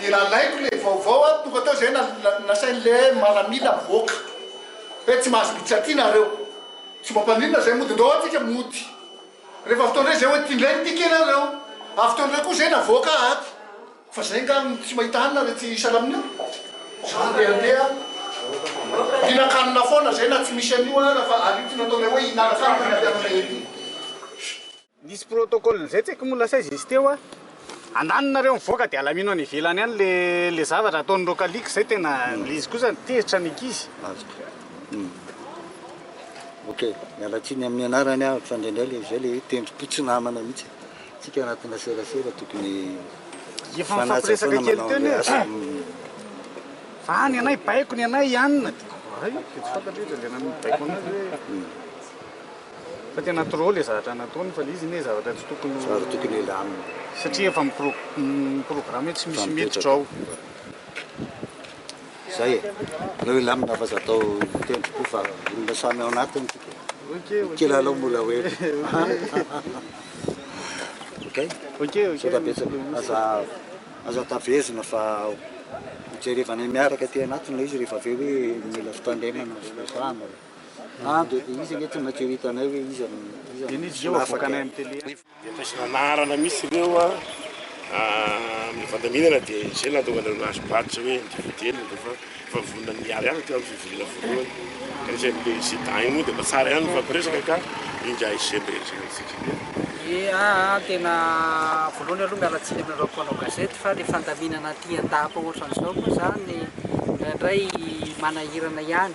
Dia nalaiko ilay vaovao aho, tonga tao izay nasain'ilay maramila mivoaka hoe tsy mahazo miditra aty nareo, tsy mba mpaninona izay mody, ndao aty ka mody. Rehefa avy tao indray izay hoe, ty indray ny ticket-nareo. Avy tao indray koa izay navoaka aho ato. Fa zay nga no tsy mahita hanina re tsy isalamin io za ndeha andeha mihinan-kanina foana zay na tsy misy an'io ara fa ary io tiana ataonay hoe hihinana kanina ny mpianatra ery. Nisy protocole nizay tsy haiko moa lasa aiza izy teo a. Andaniny nareo mivoaka de alamino any ivelany any le le zavatra ataon'ireo kaliky zay tena le izy kosa tezitra ny ankizy. Azoko. Hum. Ok. Miala tsiny amin'ny anarany aho fa indraindray le zay le hoe tendrom-po tsy namana mihitsy e. Tsika anatina serasera tokony mifanaja foana manao anle asa fa any anay baiko ny anay ianina de hay de tsy fantatro izy le nanao baiko anazy hoe fa tena trop le zavatra nataony fa le izy ne zavatra tsy tokony zavatra tokony elamina satria efa mi programme tsy misy miditra ao Zay e! Aleo hilamina fa za atao tendrim-po fa olona samy ao anatiny tsika. Ny kilalao mbola ho ela. Ok? Saotra betsaka. Aza aza tavezina fa hojerevanay miaraka aty anatiny le izy rehefa avy eo hoe mila fitandremana sy resahana. Ah, de izy anie tsy maintsy ho hitanay hoe iza no iza no solafaka e! Dia taisina anarana mihitsy ireo a, amin'ny fandaminana dia izay nahatonga anareo nahazo badge hoe individuel nareo fa efa vonona ny hiala ihany hatreo amin'ny fivoriana voalohany. Ka ny CNPE sy dahy moa dia mba tsara ihany ny mifampiresaka ka ingahy izay mba hiresaka amintsika kely. Ea a, tena voalohany aloha miala tsiny aminareo mpanao gazety fa ilay fandaminana aty an-dapa ohatran'izao moa izany indraindray manahirana ihany.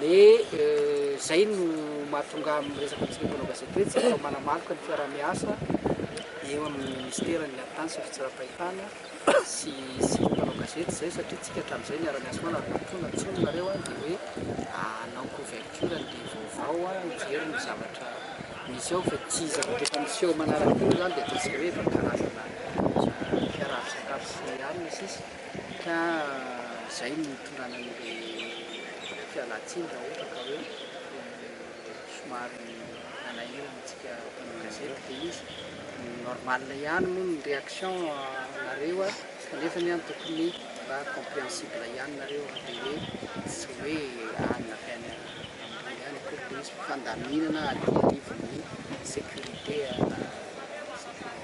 Dia izay no mahatonga ahy miresaka amintsika mpanao gazety hoe tsika ho manamaloka ny fiaraha-miasa eo amin'ny Minisiteran'ny Haritany sy ny Fitsaram-pahitana sy isika mpanao gazety izay satria tsika hatramin'izay niara-niasa foana ary nampifoana ny tsony nareo dia hoe hanao couverture an'ilay vaovao hijery ny zavatra misy ao fa tsy zavatra efa miseho manaraka teo izany dia ataontsika hoe efa karazana fiaraha-misakafo sy ny sisa. Ka izay no hitondrana an'ilay fialantsiny raha ohatra ka hoe somary manahirana antsika mpanao gazety ilay izy. Normal ihany moa ny réaction nareo a, kanefany an tokony mba compréhensible ihany nareo raha dia hoe tsy hoe any na teny ambony any akory ilay izy fa fandaminana aty anivon'ny sécurité na sécurité.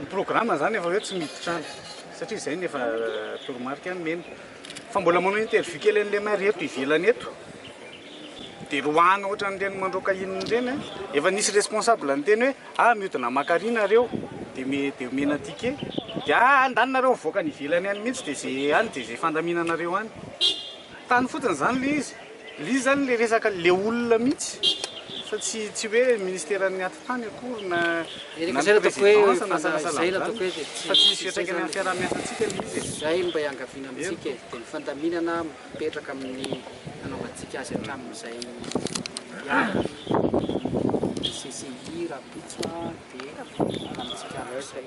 Ny programme zany efa hoe tsy miditra any satria zay no efa toromarika nomena fa mbola manao interview kely an'i Lemaire eto ivelany eto de roahana ohatran'ireny mandroaka inona ireny an, efa nisy responsable niteny hoe ah miodina maka ary nareo de me de omena ticket de ah andany nareo mivoaka any ivelany any mihitsy de ze any de ze fandaminanareo any, tany fotsiny zany le izy. Lzy zany le resaka le olona mihitsy fa tsy tsy hoe ministeran'ny atitany akory na na ny présidence na sahala sahala amizany fa tsy misy fiantraikany amin'ny fiaraha-miasantsika le izy e. Izay no mba iangaviana amintsika e, dia ny fandaminana mipetraka amin'ny nanaovantsika azy hatramin'izay ihany ny CCI rahampitso dia ananantsika amin'izay.